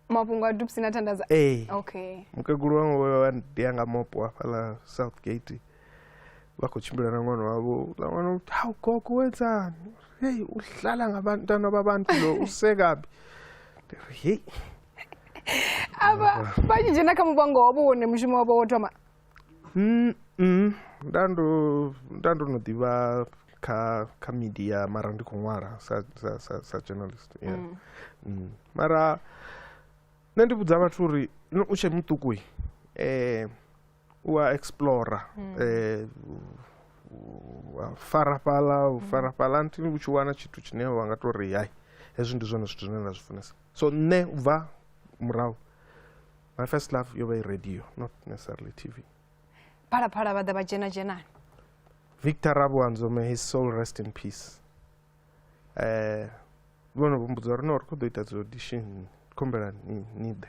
[SPEAKER 2] mafhungo a dupsi na thandaza ee okay mukegulu wanga
[SPEAKER 1] vha ndia nga mopo hafhaḽa south gate vha khou tshimbila na ṅwana wavho ḽa ṅwana ha u gogo wedzani hei u hlala nga vhantana vha vhantu lo u sekabi ndi ri hei avha
[SPEAKER 2] vha tshi dzhena kha muvhango wavho wone mushumo wavho wo thoma mm, mm. nda ndo
[SPEAKER 1] nda ndo no ḓivha kha kha media mara ndi khou ṅwala sa sa sa, sa journalist yeah. mm. Mm. mara nṋe ndi vhudza vhathu uri u tshe muṱuku um u a explora mm. eh, fara fhala u mm. fara fhala nti u tshi wana tshithu tshine wa nga tou ri hai hezwi ndi zwone zwithu zwine nda zwi funesa so nṋe u bva murahu my first love yo vha i radio not necessarily tv phalaphala
[SPEAKER 2] vha ḓa vha dzhena dzhenani victor
[SPEAKER 1] rabuanzo may his soul rest in peace um eh, vhono vho mbudza uri no ri khou ḓo ita dzi audition khumbela ni ḓe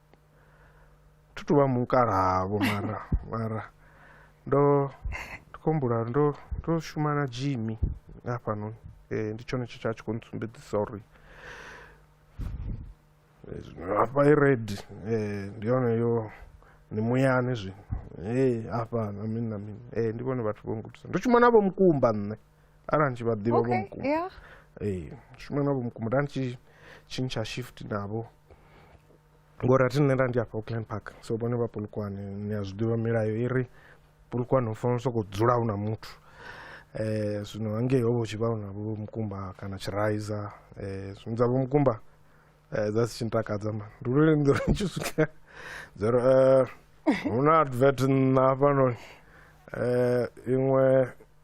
[SPEAKER 1] thi tu vha mukalahavho mara mara ndo ndi khou humbula ndo ndo shuma na Jimmy hafhanoni eh, ndi tshone tshe tsha tshi khou ntsumbedzisa uri hafha i red eh, ndi yone yo ni muyani zwino hey afha na mini na mini hey ndi vhone vhathu vho ngudisa ndo shuma navho mukumba nṋe arali ndi tshi vha ḓivha vho mukumba ee shuma navho mukumba nda ndi tshi tshintsha shift navho ngori athi nṋe nda ndi afha Auckland Park so vhone vha Polokwane ni a zwiḓivha milayo i ri Polokwane hu fanela u sokou dzula hu na muthu um zwino hangei ho vha hu tshi vha hu na vho mukumba kana tshiraiza um zwino dza vho mukumba dza si tshi ntakadza ma ndi lwone ndi ri tshi swika dza ri um hu na advert nṋa hafhanoni um iṅwe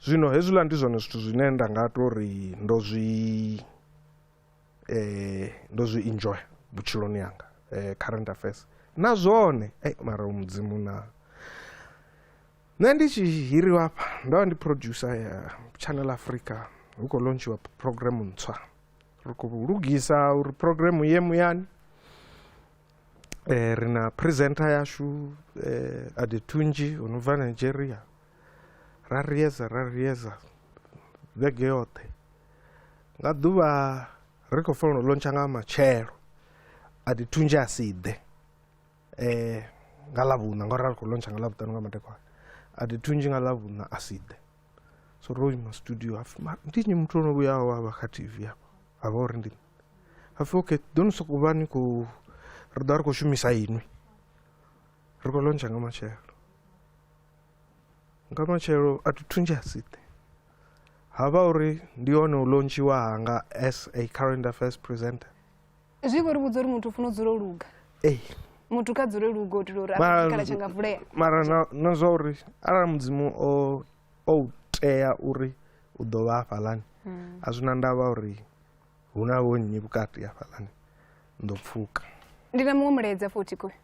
[SPEAKER 1] Zwino hezwiḽa ndi zwone zwithu zwine nda nga to ri ndo zwi ndo zwi enjoy vhutshiloni hanga current affairs na zwone mara u mudzimu na nṋe ndi tshi hiriwa hafha ndo vha ndi producer ya channel Africa hu kho lontshiwa program ntswa ri kho lugisa uri program ye muyani ri na presenter yashu Adetunzhi o no bva Nigeria ra riedza ra riedza vhege yoṱhe nga ḓuvha ri khou fanela u lontsha nga matshelo a ḓi thunzhe a si ḓe um nga ḽavhuṋa ngauri ra ri khou lontsha nga ḽavhuṱanu nga madekwana a ḓi thunzhi nga ḽavhuṋa a si ḓe so ro ima studio hapfi ndi nnyi muthu o no vhuyaho a vha kha tv hafha a vha uri ndi hapfi okay ḓo ni sokou vha ni khou ri ḓo vha ri khou shumisa inwi ri khou lontsha nga matshelo nga matshelo a thi thunzhi a si ḓe ha vha uri ndi hone u lontshiwa hanga as a current affairs presenter zwi vho ri
[SPEAKER 2] vhudza uri muthu u funa u dzula u luga ee muthu kha dzule luga u itela uri akhala tsha nga vulea mara na zwa
[SPEAKER 1] uri arali mudzimu o o tea uri u ḓo vha hafhaḽani hmm. a zwi na ndavha uri hu na vho nnyi
[SPEAKER 2] vhukati
[SPEAKER 1] hafhaḽani
[SPEAKER 2] ndo
[SPEAKER 1] pfuka ndi na muṅwe
[SPEAKER 2] mulaedza
[SPEAKER 1] futhi
[SPEAKER 2] kuyo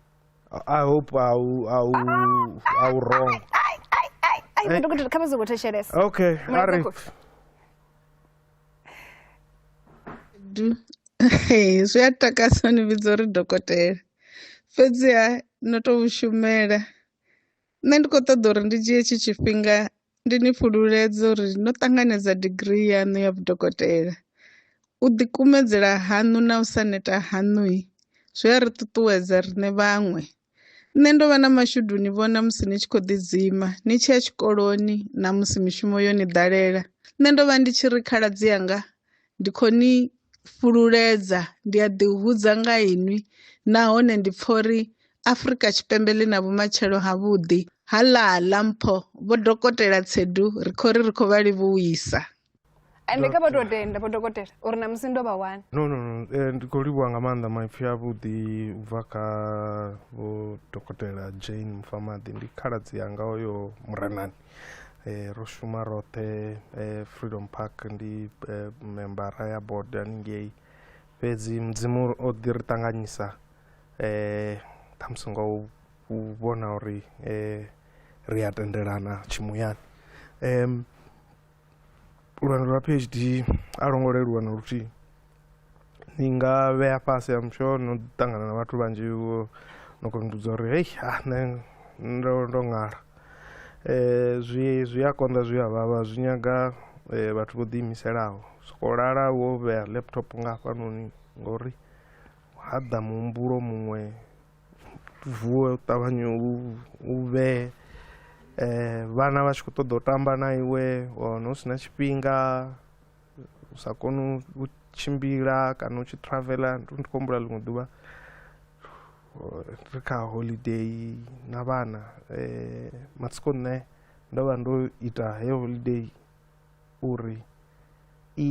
[SPEAKER 1] I hope I will, I will, I will wrong. Ai, ai,
[SPEAKER 2] ai, kama zokutheshelesa. Okay,
[SPEAKER 1] Ari.
[SPEAKER 4] Zwi a takasa ni vhidza uri dokotela. Fhedziha no tou shumela. Nṋe ndi khou ṱoḓa uri ndi dzhie tshi tshifhinga Ndi ni fhululedza uri no ṱanganedza digirii yaṋu ya vhudokotela. U ḓikumedzela haṋu na u sa neta haṋu zwi a ri ṱuṱuwedza riṋe vhaṅwe. Nṋe ndo vha na mashudu u ni vhona musi ni tshi khou ḓidzima ni tshi ya tshikoloni na musi mishumo yo ni ḓalela. Nṋe ndo vha ndi tshi ri khaladzi anga ndi khou ni fhululedza, ndi a ḓihudza nga inwi nahone ndi pfa uri Afrika Tshipembe ḽi na vhumatshelo havhuḓi. Ha ḽa ḽa mpho, Vho Dokotela Tshedu ri khou ri ri khou vha livhuwisa. Ende kha
[SPEAKER 2] vha tou tenda Vho Dokotela uri ṋamusi ndo vha wana. No, no, no, eh, ndi
[SPEAKER 1] khou livhuwa nga maanḓa maipfi avhuḓi u bva kha Vho Dokotela Jane Mufamaḓi, ndi khaladzi yanga oyo Murenani. eh, ro shuma roṱhe eh, freedom park ndi eh, membara ya board haningei fhedzi mudzimu o ḓi ri ṱanganyisa eh, ṱhamusi nga u u vhona uri eh, ri a tendelana tshimuyani um, lwendo lwa phd a lwo ngo leluwa na luthihi ni nga vhea fhasi am sure no ṱangana na vhathu vhanzhi vho no kona u uri hei a ah, nṋe ndo ndo ṅala um zwi zwi a konḓa zwi a vhavha zwi nyaga eh, vhathu vho ḓiimiselaho soko lala wo vhea laptop nga hafhanoni ngori ha ḓa muhumbulo muṅwe vuwe u ṱavhanye u vhe um vhana vha tshi khou ṱoḓa u tamba na iwe wa wana hu si na tshifhinga u sa koni u tshimbila kana u tshi traveler ndi khou humbula ḽiṅwe ḓuvha ri kha holiday na vhana um matsiko nṋe ndo vha ndo ita heyo holiday uri i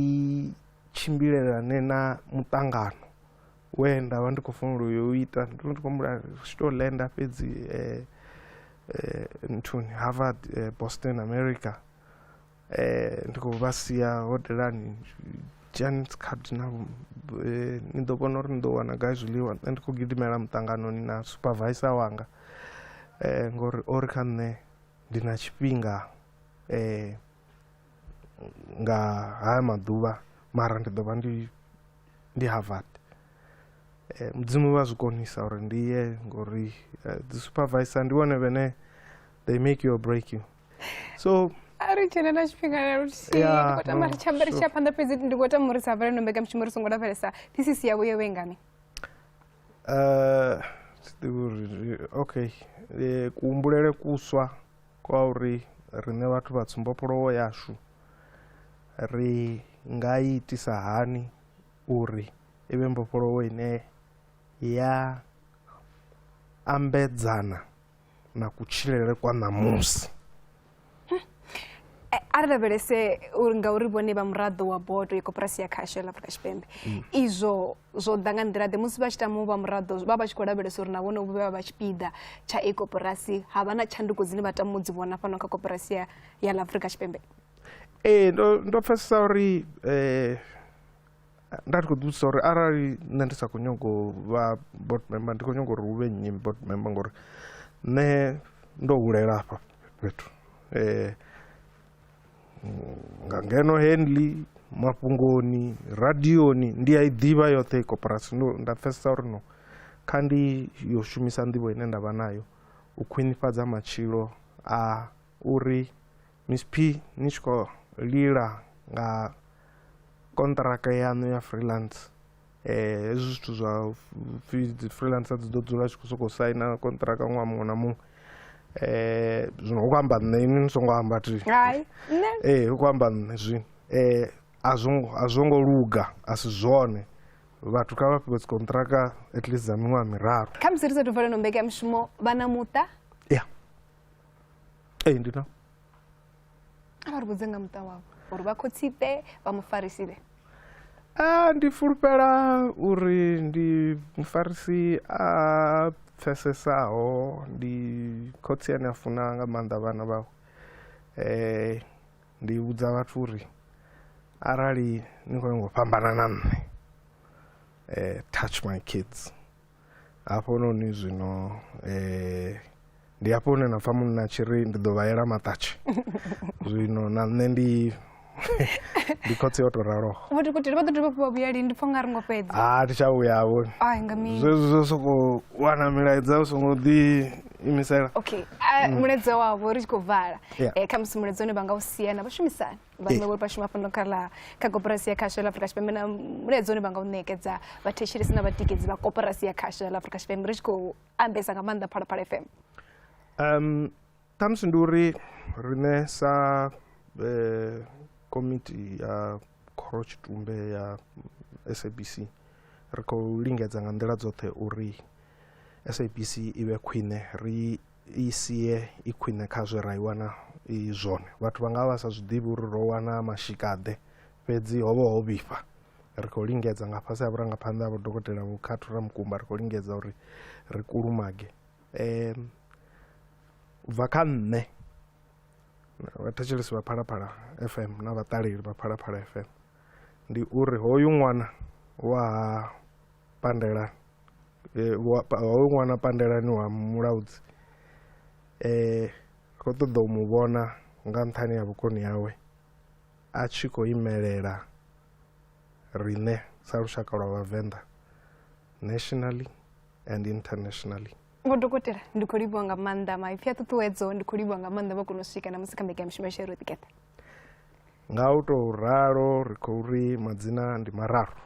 [SPEAKER 1] tshimbilelane na muṱangano we nda vha ndi khou fanela uyo u ita ndo ndi khou humbula tshi tou lenda fhedzi eh, eh, nthuni harvard eh, boston america eh, ndi khou vha sia hodelani janet cardinal eh, ni ḓo vhona uri ni ḓo wana gai zwiḽiwa nṋe ndi khou gidimela muṱanganoni na supervisor wanga eh, ngori o ri kha nṋe ndi na tshifhinga eh, nga haya maḓuvha mara ndi ḓo vha ndi ndi Harvard eh, mudzimu vha zwi konisa uri ndi ye ngori eh, dzi supervisor ndi vhone vhene they make you or break you so a ri dzhena na
[SPEAKER 2] tshifhinga na luthihi Yeah, ndi khou tama no, ri tsha amba ri sure. tsha phanḓa fhedzi ndi khou tama uri sa vhalendo mbekanyamushumo ri songo lavhelesa thisisi yavho yo vhengani Eh, thi ḓivhi uri ri- okay Eh, kuhumbulele kuswa kwa uri riṋe vhathu vha tsumbopolowo yashu Ri nga i itisa hani uri i vhe mbofholowo ine ya ambedzana na kutshilele kwa ṋamusi? Eh, a ri lavhelese uri ngauri vhone vha muraḓo wa bodo ya koporasi ya khasho la afrika tshipembe mm. izwo zwo ḓa nga nḓila ḓe musi vha tshi tama u vha muraḓo vha vha tshi khou lavhelesa uri na vhone vho vha vha tshipiḓa tsha i koporasi ha vha na tshanduko dzine vha tama u dzi vhona fhano kha koporasi ya la afrika tshipembe Ee ndo
[SPEAKER 1] ndo pfhesesa uri nda ndi kho ḓi vhudzisa uri arali nṋe ndi sa kho nyago vha board member ndi kho nyaga uri hu vhe nnyi board member ngori nṋe ndo hulela afha fhethu nga ngeno Henley mafhungoni radioni ndi a i ḓivha yoṱhe i koporasi ndo nda pfhesesa uri no kha ndi yo shumisa nḓivho ine ndavha nayo u khwinifhadza matshilo a uri. Miss P ni tshi khou lila nga konṱiraka yaṋu ya freelance eh hezwi zwithu zwa pfhi dzi freelancer dzi ḓo dzula tshi khou sokou saina konṱiraka ṅwaha muṅwe na muṅwe eh zwino hu khou amba nṋe ini ni songo amba thi hai nṋe eh hu khou amba nṋe zwino eh a zwo ngo- a zwo ngo luga a si zwone vhathu kha vha fhiwe dzi konṱiraka at least dza miṅwaha miraru khamusi ri sathu vala no
[SPEAKER 2] mbekamishumo vha na muṱa ya
[SPEAKER 1] ee ndi na
[SPEAKER 2] a vha ri vhudze nga muṱa wavho uri vha khotsipe vha mufarisipe a
[SPEAKER 1] ndi fulufhela uri ndi mufarisi a pfesesaho ndi khotsi ane a funa nga maanḓa vhana vhawe um ndi vhudza vhathu uri arali ni khou nyanga u fhambana na nṋe um touch my kids hafhanoni zwino eh, ndi hafho hune na pfa munna a tshi ri ndi ḓo vha yela maṱatshi zwino na nṋe ndi ndi khotsi yo to raloho vhoti kuti vha ḓo dovha fhiwa
[SPEAKER 2] vhuyali ndi pfha nga ri ngo fhedza a ah, thi tsha vhuya vhoni
[SPEAKER 1] ai nga mini zwezwi
[SPEAKER 2] zwo sokou
[SPEAKER 1] wana milaedza u songo ḓi imisela okay mm.
[SPEAKER 2] mulaedza wavho ri tshi khou vala eh, khamusi mulaedza une vha nga u siana vha shumisana vhaṅwe vho vha shuma fhano kha ḽa kha koporasi ya khasho ya afrika tshipembe na mulaedza une vha nga u ṋekedza vhathetshelesi na vhatikedzi vha koporasi ya khasho ya afrika tshipembe ri tshi khou ambesa nga maanḓa phalaphala fm um
[SPEAKER 1] ṱhamusi ndi uri riṋe sa eh, komiti ya khoro tshitumbe ya sabc ri khou lingedza nga nḓila dzoṱhe uri sabc i vhe khwine ri i sie i khwine kha zwe ra i wana i zwone vhathu vha nga vha vha sa zwi ḓivhi uri ro wana mashikaḓe fhedzi ho vha ho vhifha ri khou lingedza nga fhasi ha vhurangaphanḓa ha vhodokotela vho khathu ra mukumba ri khou lingedza uri ri kulumage um u bva kha nṋe vhathetshelesi vha phalaphala fm na vhaṱaleli vha phalaphala fm ndi uri hoyu ṅwana wa ha pandelani eh, wa hoyu ṅwana pandelani wa mulaudzi eh ro ṱoḓa u mu vhona nga nṱhani ha vhukoni hawe a tshi khou imelela riṋe sa lushaka lwa vhavenḓa nationally and internationally vho dokotela
[SPEAKER 2] ndi khou livhiwa nga maanḓa maipfi a ṱuṱuwedzo ndi khou livhiwa nga maanḓa vha kona u swika na musi kha mbekanyamishumo ya shero ḓikeṱa
[SPEAKER 1] nga u tou ralo ri khou ri madzina ndi mararu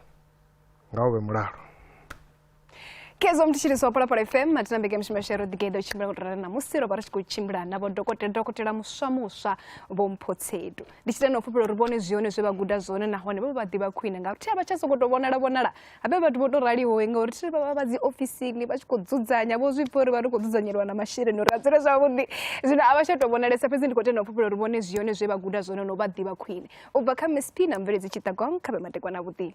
[SPEAKER 1] ngaho vhe mulalo
[SPEAKER 2] khezwo mthitshiriso wa phalaphala fm matina mbekamishumo yashu ya roḓigeḓa u tshimbila ngo tora na musi ro vha ri tshi khou tshimbila na vho dokotela dokotela muswa muswa vho mphotsedu ndi tshi tenda u fhufhela uri vhone zwi hone zwe vha guda zwone nahone vha vha ḓivha khwine ngauri thi a vha tsha sokou tou vhonala vhonala habe vhathu vho tou raliho ngauri thi vha vha vha dzi ofisini vha tshi khou dzudzanya vho zwi pfha uri vha ri khou dzudzanyeliwa na masheleni uri a dzule zwavhuḓi zwino a vha tsha tou vhonalesa fhedzi ndi khou tenda u fhufhela uri vhone zwi hone zwe vha guda zwone no vha ḓivha khwine u bva kha msp na mveledzi tshiṱagong kha vhe matekwana vhuḓini